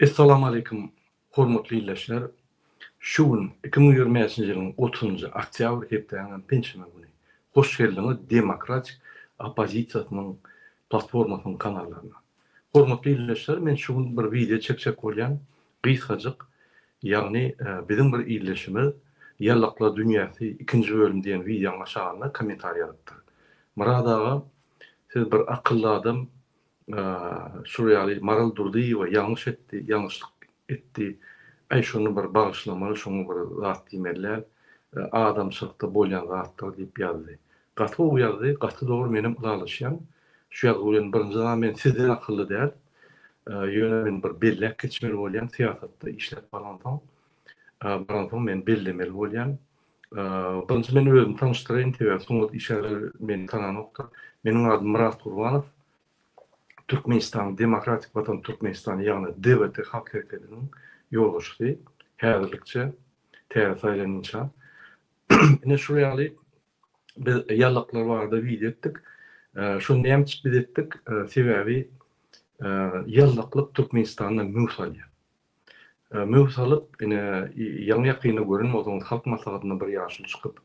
Essalamu Aleýkum hormatly ildeşler! Şu gün iki müň ýigrimi bäşinji ýylyň otuzynjy oktýabr hepdäniňem penşenbe güni. Hoş geldiňiz demokratik oppozisiýasynyň platformasynyň kanallaryna. Hormatly ildeşler men şu gün bir wideo çekjek bolýan. Gysgajyk, ýagny biziň bir ildeşimiz Ýallaklar dünýäsi ikinji bölüm diýen wideonyň aşagynda kommentariý ýazypdyr. Myrat aga siz bir akylly adam şul ýaly Maral Durdyýewa ýalňyş etdi, ýalňyşlyk etdi, äý şony bir bagyşlamaly, şoňa bir zat diýmeli däl, adamçylykda bolýan zatdyr diýip ýazdy. Gaty gowy ýazdy gaty dogry menem ylalaşýan şu ýazgy bilen birinji zat men sizden akylly däl ýöne men bir belläp geçmeli bolýan syýasatda işläp baransoň baransoň men bellemeli bolýan birinji men özümi tanyşdyraýyn sebäbi sungat işgärleri meni tananokdyr meniň adym Myrat Gurbanow Türkmenistanyň Demokratik Watan Türkmenistany ýagny DWT halk hereketiniň ýolbaşçysy häzirlikçe täze saýlanýança ine şul ýaly Biz ýalaklar barada wideo etdik. Şony näme üçin biz etdik? Sebäbi ýalaklyk Türkmenistanda möw salýar. Möw salyp, ine, ýaňy-ýakynda gören bolsaňyz, Halk Maslahatynda bir ýaşuly çykyp,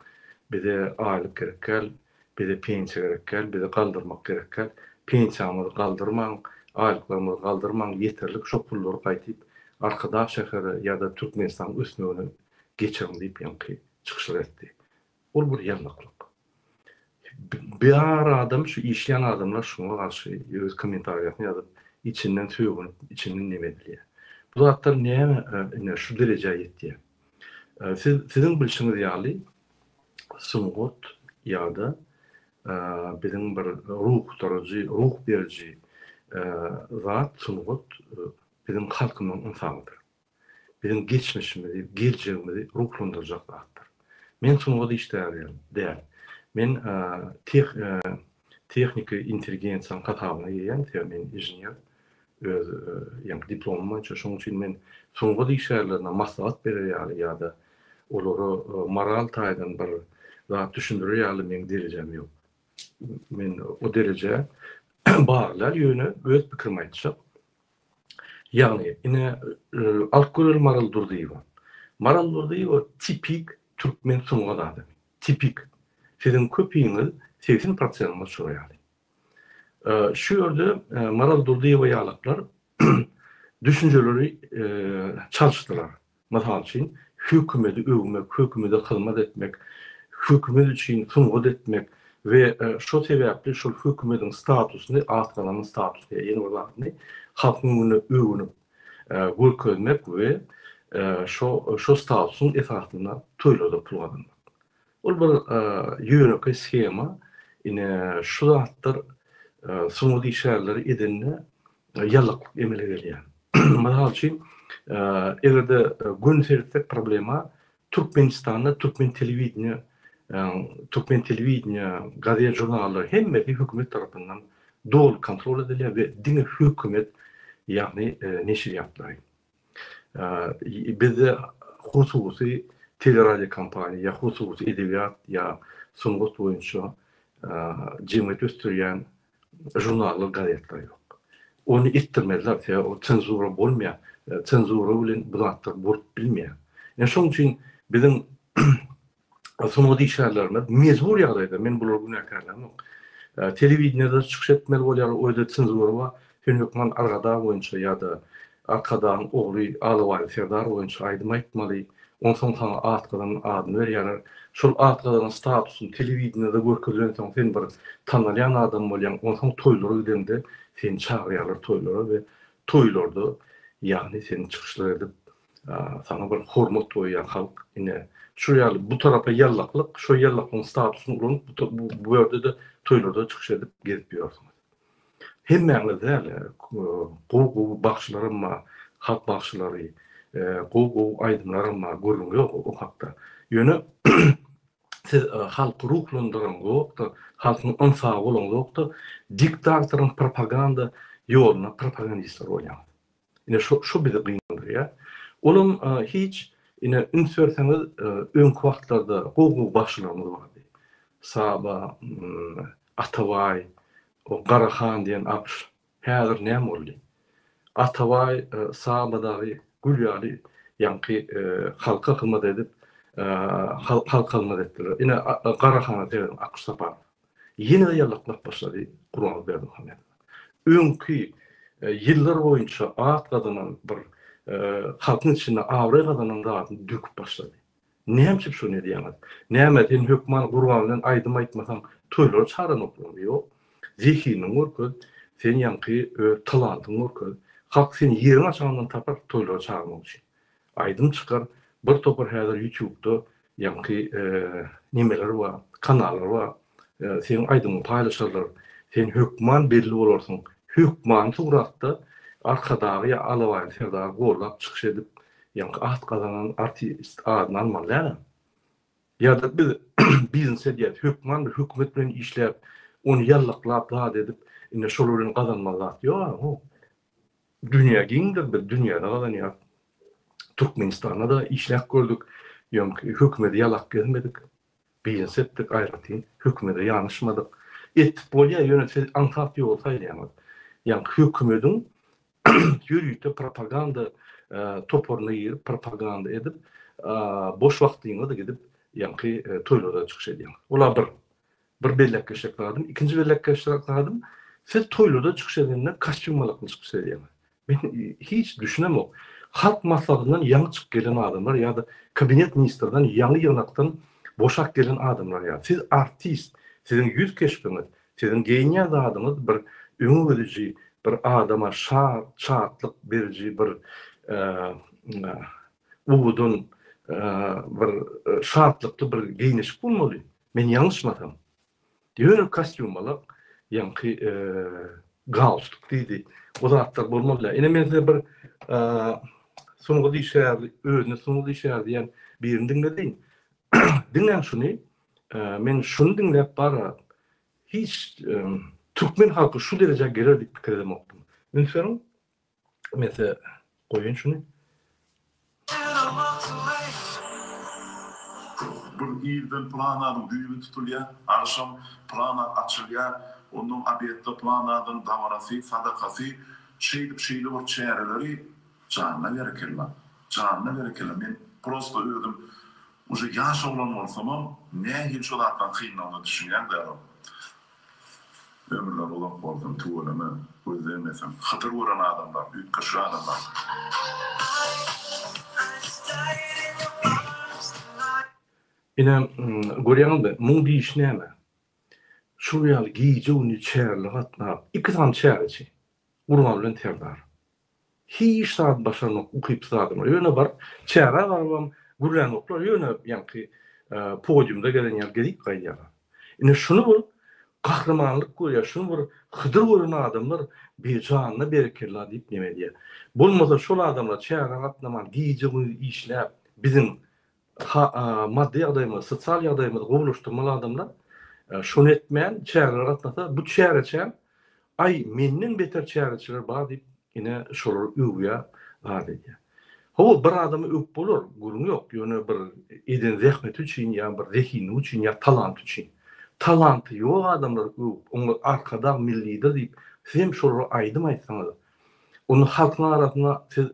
Bize aýlyk gerek däl, bize pensiýa gerek däl, bizi galdyrmak gerek däl. Pensiýamyzy galdyrmaň, aýlyklarymyzy galdyrmaň, ýeterlik şo pullary gaýdyp Arkadag şähere ýa-da Türkmenistanyň ösmegine geçiriň diýip ýaňky çykyşlar etdi. Ol bir ýalňyklyk. Bar adam şu işleýän adamlar şuňa garşy öz kommentariýasyny ýazyp, içinden sögünip, içinden neme edilýär. Bu zatlar näme ine şu derejä ýetýär. Siz siziň bilşiňiz ýaly sungat ýa-da biziň bir ruhdaryjy, ruh beriji zat sungat biziň halkymyň ynsabydyr. biziň geçmişimizi, geljegimizi ruhlandyrjak zatdyr. Men sungat işgäri däl. Men tehniki intelligensiýanyň hasabyna gelýän, sebäbi men inžener, öz ýaňky diplomym boýunça. Şonuň üçin men sungat işgärlerine maslahat berer ýaly ýa-da olara moral taýdan bir zat düşündirer ýaly meň derejem ýok. Men o derejä bagly däl, ýöne öz pikirimi aýtjak. Ýagny, ine, alyp göreli Maral Durdyýewa. Maral Durdyýewa tipik türkmen sungat adamy. Tipik. Siziň köpiňiz segsen prosentiňiz şo ýaly. Şu ýerde Maral Durdyýewa ýalaklar düşünjeleri çalyşdylar. Mysal üçin, hökümedi öwmek, hökümede hyzmat etmek, hökümet üçin sungat etmek we şo sebäpli şol hökümediň statusyny, az galanyn statusyny ýa ýene bir zadyny halkyň öňünde öwünip görkezmek we şo şo statusyň esasynda toýlarda pul gazanmak. Ol bir ýönekeý shema, ine şu zatlar sungat işgärleri edende ýalaklyk emele gelýär. Mysal üçin, egerde göni seretsek problema Türkmenistanda türkmen telewideniýe, türkmen telewideniýe, gazet žurnallar hemmesi hökümet tarapyndan doly kontrol edilýär we diňe hökümet ýagny neşirýatlary. Bizde hususy teleradio kompaniýa ýa hususy edebiýat ýa sungat boýunça jemgyýeti ösdürýän žurnallar, gazetler ýok. Ony etdirmezler, sebäbi ol senzura bolmaýar. Senzura bilen bu zatlar bolup bilmeýär. Ýa şonuň üçin biziň sungat işgärlerine mejbur ýagdaýda, men bulary günäkärlämok, telewideniýede çykyş etmeli bolýarlar, o ýerde senzura bar, sen hökman Argadag boýunça ýa-da Arkadagyň ogly Alabaýly Serdar boýunça aýdym aýtmaly, onsoň saňa at gazan adyny berýärler, şol at gazanan statusyň telewideniýede görkezilensoň sen bir tanalýan adam bolýaň, onsoň toýlara gideňde seni çagyrýarlar toýlara we toýlarda ýagny seni çykyşlar edip Saňa bir hormat goýýan halk ine şu ýaly bu tarapa ýallaklyk şo ýallaklygyň statusyny ulanyp bu ýerde-de toýlarda çykyş edip gezip ýörsiňiz. Hemmäňiz däl gowy gowy bagşylaram bar halk bagşylary gowy gowy aýdymlaram bar gürrüň ýok o hakda ýöne siz halky ruhlandyranyňzokda halkyň ynsaby bolaňzokda diktatoryň propaganda ýoluna propagandistler bolýaňyz. Ine şu şu bizi gynandyrýar. Olam hiç ine üns berseňiz öňki wagtlarda gowy gowy bagşylarymyz bardy. Saba, Atabaý, o Garahan diýen agş. Häzir näme boldy? Atabaý, Saba dagy gül ýaly ýaňky halka hyzmat edip halka hyzmat etdiler. Ine Garahana seredin Akşy Saparow. ýene-de ýallaklap başlady Gurbanguly Berdimuhamedow. Öňki ýyllar boýunça at gazanan bir halkyň içinde abraý gazanan zadyny döküp başlady. Näme üçin şony edýäňiz? Näme sen hökman Gurban bilen aýdym aýtmasaň toýlary çaranokmy? Ýok. Zehiniňi görkez, sen ýaňky öz talantyňy görkez. Halk seni ýeriň aşagyndan tapar toýlara çagyrmak üçin. Aýdym çykar bir topar häzir ýutubda ýaňky nemeler bar kanallar bar seň aýdymyňy paýlaşarlar sen hökman belli bolarsyň hökman suratda arkadagy ýa alabaýly serdary gollap çykyş edip ýaňky at gazanan artist adyny almaly däl a ýada biz biznes edýäs hökman bir hökümet bilen işläp ony ýallaklap zat edip ine şol bilen gazanmaly zat ýok a bu Dünýä giňdir, biz dünýäde gazanýarys. Türkmenistanda-da işläp gördük, ýöňki hökümedi ýalap gezmedik. Biznes etdik aýratyn, hökümede ýanaşmadyk. Etip bolýar, ýöne siz aňsat ýoly saýlaýaňyz. Ýaňky hökümediň ýörite propaganda toparyna girip, propaganda edip, boş wagtyňyzy gidip ýaňky toýlarda çykyş edýäňiz. Olar bir Bir belläp geçjek zadym, ikinji belläp geçjek zadym, siz toýlarda çykyş edende kostýum malakny çykyş edýäňiz. Men hiç düşünemok. Halk maslahatyndan ýaňy çykyp gelen adamlar ýa-da kabinet ministrden ýaňy ýygnakdan boşap gelen adamlar ýaly. Siz artist, siziň ýüz keşbiňiz, siziň geýinýän zadyňyz bir öňe gidiji, bir adama şad, şatlyk beriji bir uwwudan bir şatlykly bir geýnişik bolmaly. Men ýalňyşmasam, ýöne kostýumalak, ýaňky galstuk diýdi. O zatlar bolmaly. Ine men size bir sungat işgäri, özüne sungat işgäri diýen birini diňledin. Diňläň şuny. Men şuny diňläp bara hiç türkmen halky şu derejä geler diýip pikir edemokdym. Üns beriň, Mese goýaýyn şuny. Bir irden plananyň düýbi tutulýar, agşam plana açylýar, onnoň obedde planadyň dabarasy, sadakasy, şeýdip şeýle bir çäreleri, janyna berekella, janyna berekella, men prosta özüm uje ýaş oglan bolsamam, nähili şu zatlaryň kynlygyna düşünýän dälom. Ömürler uzak bolsun tüweleme gözleýmeseň hydyr gören adamlar üýtgeşik adamlar. Ine, görýäňizmi, muň diýişi näme? Şol ýaly gije-gündiz çärli gatnap, iki sany çäreçi, Gurban bilen Serdar. Hiç zat başarmak ukypsyz zadam. Ýöne baryp, çägä barybam gürlänoklar, ýöne ýaňky podiumda gezen ýaly gezip gaýdýarlar. Ine, şuny bir gahrymanlyk görýär, şuny bir Hydyr gören adamlar bir janyna berekella diýip neme edýär. Bolmasa şol adamlar çägä gatnaman, gije-gündiz işläp, biziň ha maddy ýagdaýymyz, sosial ýagdaýymyzy gowulaşdyrmaly adamlar şony etmän çärelere gatnasa, bu çäreçäm, aý, menden beter çäreçiler bar diýip, ine, şolar öwýär, az edýär. Hawa, bir adamy öwüp bolar, gürrüň ýok, ýöne bir eden zähmeti üçin ýa bir zehinligi üçin ýa talanty üçin. Talanty ýok adamlary öwüp, oňa Arkadag millidir diýip, siz hem şolara aýdym aýtsaňyz, onda halkyň arasynda siz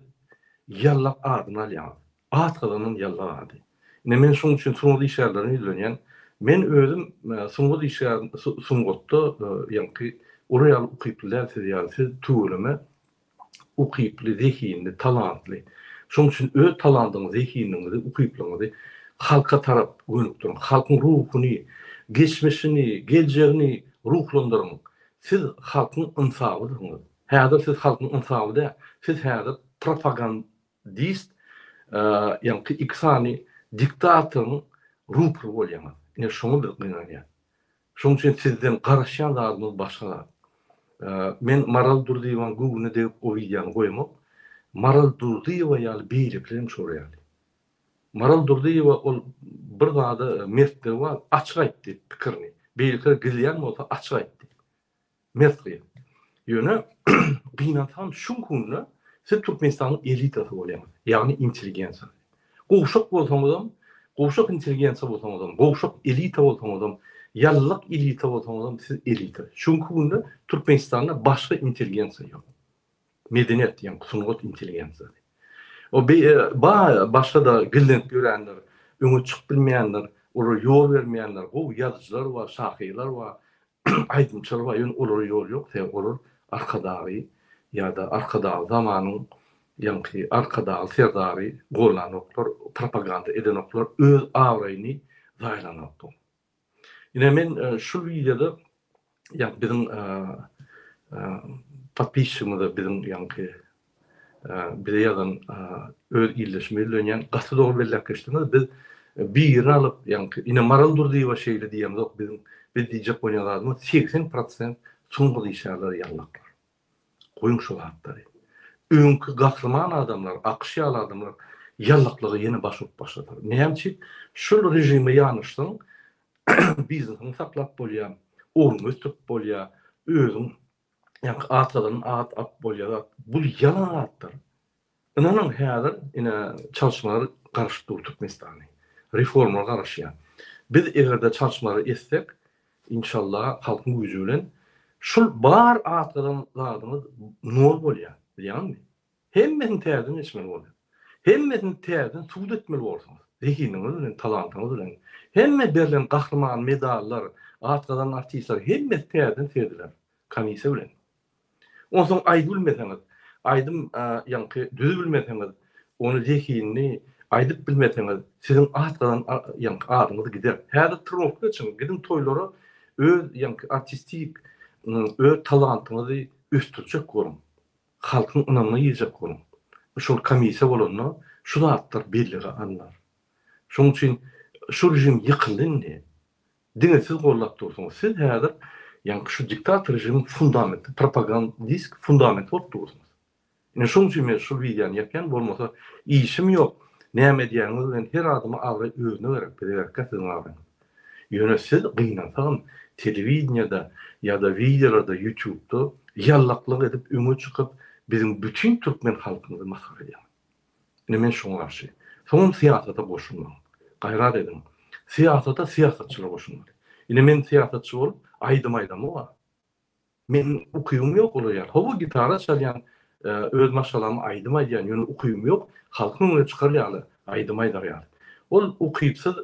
ýallak adyny alýaňyz. At gyzynyň ýylgyr ady. Ine, men şunuň üçin sungat işgärlerine ýüzlenýän. Men özüm sungat işgär, sungatda ýaňky olar ýaly ukyply däl siz ýaly. Siz tüweleme ukyply, zehinli, talantly. Şonuň üçin öz talantyňyzy, zehinligiňizi, ukyplygyňyzy halka tarap gönükdiriň. Halkyň ruhuny, geçmişini, geljegini ruhlandyryň. Siz halkyň ynsabydygyňyz. Häzir siz halkyň ynsaby däl. Siz häzir propagand, Dist, ýaňky iki sany diktatoryň rupry bolýaňyz. Ine şoňa biz gynanýas. Şoň üçin sizden garaşýan zadymyz başga zat. Men Maral Durdyýewanyň göwnüne degip o wideony goýamok. Maral Durdyýewa ýaly beýlekiler hem şolar ýaly. Maral Durdyýewa ol bir zada mertligi bar, açyk aýtdy pikirini. Beýlekiler gizleýän bolsa açyk aýtdy. Mert gyz. Ýöne gynansam şuň hunda siz Türkmenistanyň elitasy bolýaňyz. Ýagny intelligensiýa. Gowşak bolsaňyzam, gowşak intelligensiýa bolsaňyzam, gowşak elita bolsaňyzam, ýalylyk elita bolsaňyzam siz elita. Şuňky günde Türkmenistanda başga intelligensiýa ýok. Medeniýet diýen sungat intelligensiýa. O bi ba başga da gizlenip ýörenler, öňe çykyp bilmeýänler, olar ýol bermeýänler, gowy ýazyjylar bar, şahyrlar bar. Aýdym çylba ýöne olara ýol ýok sebäbi olar arkadagy ýada arkadagy zamanyň ýaňky arkadagy serdary gollanoklar propaganda edenoklar öz abraýyny zaýalanoklar. Ine men şu wideoda ýa biziň podpisçigimize biziň ýaňky bize ýazan öz ildeşim bellenýän gaty dogry belläp geçdiňiz biz birini alyp ýaňky ine maral durdyýewa şeýle diýemzok biziň biz diýjek bolýan zadymyz segsen prosent soňky diýşýärler ýaňlaklar goýuň şu zatlary öňki gahryman adamlar akyş ýaly adamlar ýaňlaklara ýene baş urup başladylar näme üçin şul režime ýanaşsaň biznesini saklap bolýar ornuňy ösdürip bolýar özüň Ýaňky at gazanan at ap bolýa zat. Bul ýalan zatlar. Ynanyň häzir ine çalşmalar garyşyp dur Türkmenistany. Reformlar garyşýa. Biz egerde çalşmalary etsek inşalla halkyň güýji bilen şul bar at gazanan zadyňyz nol bolýa. Bilýaňmi? Hemmesini täzeden geçmeli bolýar. Hemmesini täzeden subut etmeli borsuňyz. Zehiniňiz bilen, talantyňyz bilen. Hemme berlen gahryman medallar, at gazanan artistler hemmesi täzeden serediler. Komissiýa bilen. Onsoň aýdybilmeseňiz, aýdym ýaňky düzübilmeseňiz, ony zehinli aýdyp bilmeseňiz, siziň at gazanan ýaňky adyňyz gider. Häzir trnowka geçiň, gidiň toýlara öz ýaňky artistik öz talantyňyzy ösdürjek boluň. Halkyň ynamyna girjek boluň. Şol komissiýa bolanda şu zatlar bellige alnar. Şonuň üçin şu režim ýykyldy indi. Diňe siz goldap dursuňyz. Siz häzir ýaňky şu diktator režimiň fundamenti, propagandist fundamenti bolup dursuňyz. Ine şonuň üçin men şul wideony ýapýan, bolmasa işim ýok, näme edýäniňiz bilen her adama abraý özüne gerek, bize gerekkä siziň abraýyňyz. Ýöne siz gynansagam telewideniýede ýa-da wideolarda ýutubda ýallaklyk edip öňe çykyp biziň bütin türkmen halkymyzy masgara edýäňiz. Ine men şuňa garşy. Soňam syýasata goşulmaň. Gaýrat ediň. Syýasata syýasatçylar goşulmaly. Ine men syýasatçy bolup aýdym aýdamok-a. Men ukybym ýok olar ýaly. Hawa gitara çalýan, öz maşgalamy aýdym aýdýan, ýöne ukybym ýok. Halkyň öňüne çykar ýaly, aýdym aýdar ýaly. Ol ukypsyz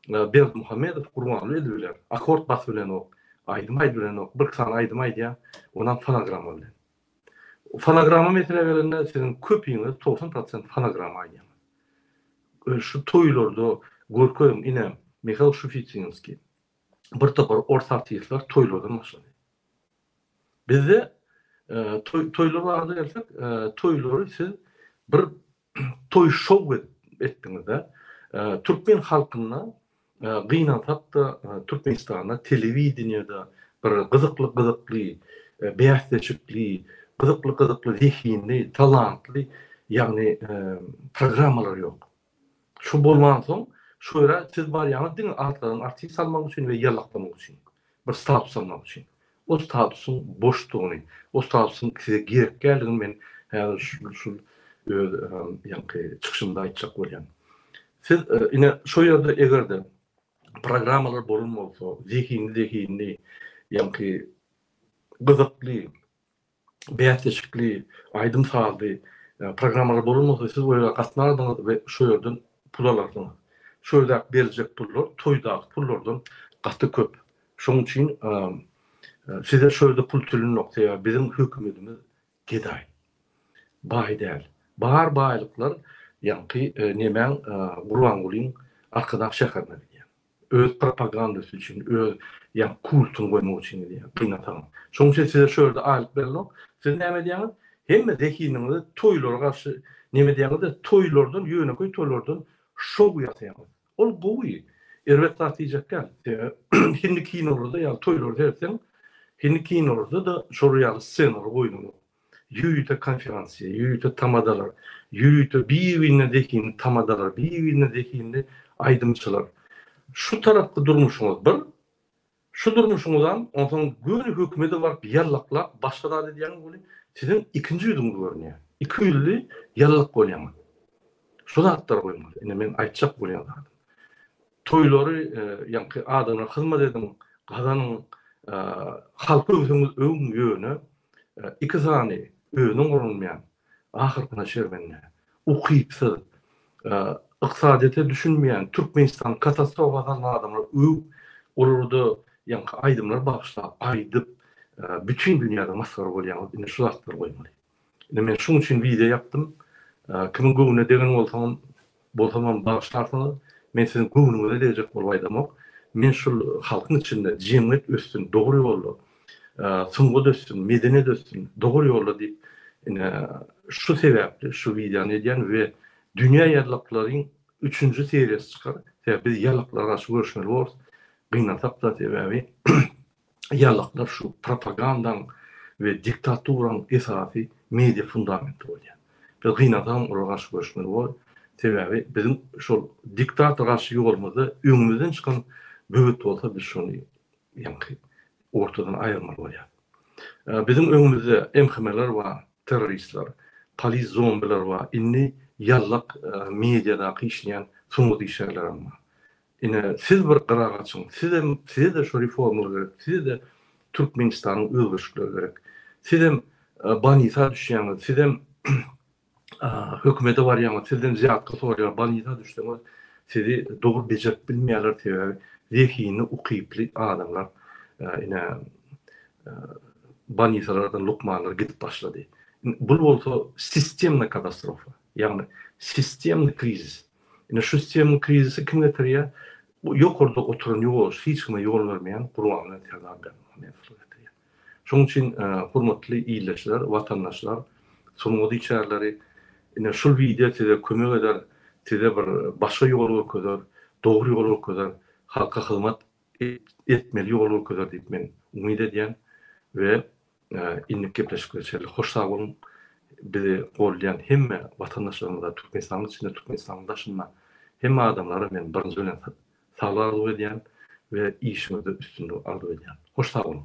Berdimuhamedow Gurbanguly edip biler. Akord basyp bilenok, aýdym aýdyp bilenok. Birki sany aýdym aýdýar, onam fonogramma bilen. Fonogramma meselä gelende siziň köpiňiz togsan prosent fonogramma aýdýaňyz. Şu toýlarda görkeziň ine Mihail Şufitinskiý, bir topar ors artistler toýlardan başlady. Bizde toý toýlar barada gelsek, toýlary siz bir toý şow etdiňizde, türkmen halkynda gynansakda Türkmenistanda telewideniýede bir gyzykly gyzykly bäsleşikli, gyzykly gyzykly zehinli, talantly ýagny programmalar ýok. Şu bolmansoň, şu ýere siz barýaňyz diňe atlaryň artyny salmak üçin we ýallaklamak üçin. Bir status almak üçin. O statusyň boşdugyny, o statusyň size gerek däldigini men häzir şu öz ýaňky çykyşymda aýtjak bolýan. Siz ine şu ýerde eger-de programmalar bolan bolsa, zehinli-zehinli, ýaňky gyzykly, bäsleşikli, aýdym-sazly programmalar bolansoň siz olara gatnardyňyz we şo ýerden pul alardyňyz. Şu ýerdäki beriljek pullar toýdaky pullardan gaty köp. Şonuň üçin size şu ýerde pul tölenok, sebäbi biziň hökümetimiz gedaý. Baý däl. Bar baýlyklar ýaňky nemäň Gurbangulyň Arkadag şäherine gidýär. Öz propagandasy üçin, öz ýa kultuny goýmak üçin edýär, gynansagam. Şonuň üçin size şu ýerde aýlyk berilok. Siz näme edýäňiz? Hemme zehiniňizi toýlara garşy neme edýäňiz-de, toýlardan, ýönekeý toýlardan şou ýasaýaňyz. Ol gowy, erbet zat diýjek däl. Sebäbi hindi kinolarda ýaly toýlary seretseň, hindi kinolarda-da şolar ýaly ssenalar goýlanok. Ýörite konferensiýa, ýörite tamadalar, ýörite bir-birine zehinli tamadalar, bir-birine zehinli aýdymçylar. Şu tarapky durmuşyňyz bir, şu durmuşyňyzam onsoň göni hökümede baryp ýallaklap başga zat edýäňiz welin siziň ikinji ýüzüňiz görünýär. Iki ýüzli ýallak bolýaňyz. Şu zatlary goýmaly. Ine men aýtjak bolýan zadym. Toýlary ýaňky adamlara hyzmat ediň, gazanyň, halky öwseňiz öwüň ýöne iki sany özüň gurunmaýan, ahyrkyna şermende, ukypsyz, ykdysadyýete düşünmeýän, Türkmenistany katastrofa salan adamlary öw, olarda ýaňky aýdymlary bagyşla, aýdyp bütin dünýäde masgara bolýaňyz, indi şu zatlary goýmaly. Ine men şuň üçin wideo ýapdym. Kimiň göwnüne degen bolsaňam, bolsamam bagyşlarsyňyz. Men siziň göwnüňize degjek bolup aýdamok. Men şul halkyň içinde jemgyýet össün, dogry ýolda, sungat össün, medeniýet össün, dogry ýolda diýip, ine şu sebäpli şu wideony edýän we dünýä ýazlaklaryň üçünji seriýasy çykar. Sebäbi biz ýazlyklara garşy göreşmeli bolarys. Gynansak-da sebäbi ýalaklar şu propagandaň we diktaturanyň esasy media fundamenti bolýar. Biz gynansagam olara garşy göreşmeli bor. Sebäbi biziň şol diktator garşy ýolumyzda öňümizden çykan böwet bolsa biz şony ýaňky ortadan aýyrmaly bolýar. Biziň öňümizde MHM-ler bar, terroristler, polis zombiler bar, indi ýallak mediadaky işleýän sungat işgärlerem bar. Ine siz bir gyra gaçyň, sizem sizede şu reformlar gerek, sizede Türkmenistanyň özgerişikleri gerek. Sizem banisa düşýäňiz, sizem hökümede barýaňyz, sizden zýatka soraýar, banisa düşseňiz sizi dogry bejerip bilmeýärler sebäbi zehinli ukyply adamlar ine banisalardan lukmanlar gidip başlady. Bul bolsa sistemna katastrofa, ýagny sistemny krizis. Ine şu sistemini krizisi kim getirýär? Bu ýokarda oturan ýolbaşçy hiç kime ýol bermeýän Gurban bilen Serdar Berdimuhamedow getirýär. Şonuň üçin hormatly ildeşler, watandaşlar, sungat içärleri ine şul wideo size kömek eder, size bir başga ýol görkezer, dogry ýol görkezer, halka hyzmat etmeli ýol görkezer diýip men umyt edýän we Innik gepleşikler şeýle. Hoş sag boluň. Bizi goldaýan hemme watandaşlarymyza Türkmenistanyň içinde, Türkmenistanyň daşynda hemme adamlara men birinji bilen saglyk arzuw edýän we işiňizde üstünlik arzuw edýän. Hoş sag boluň.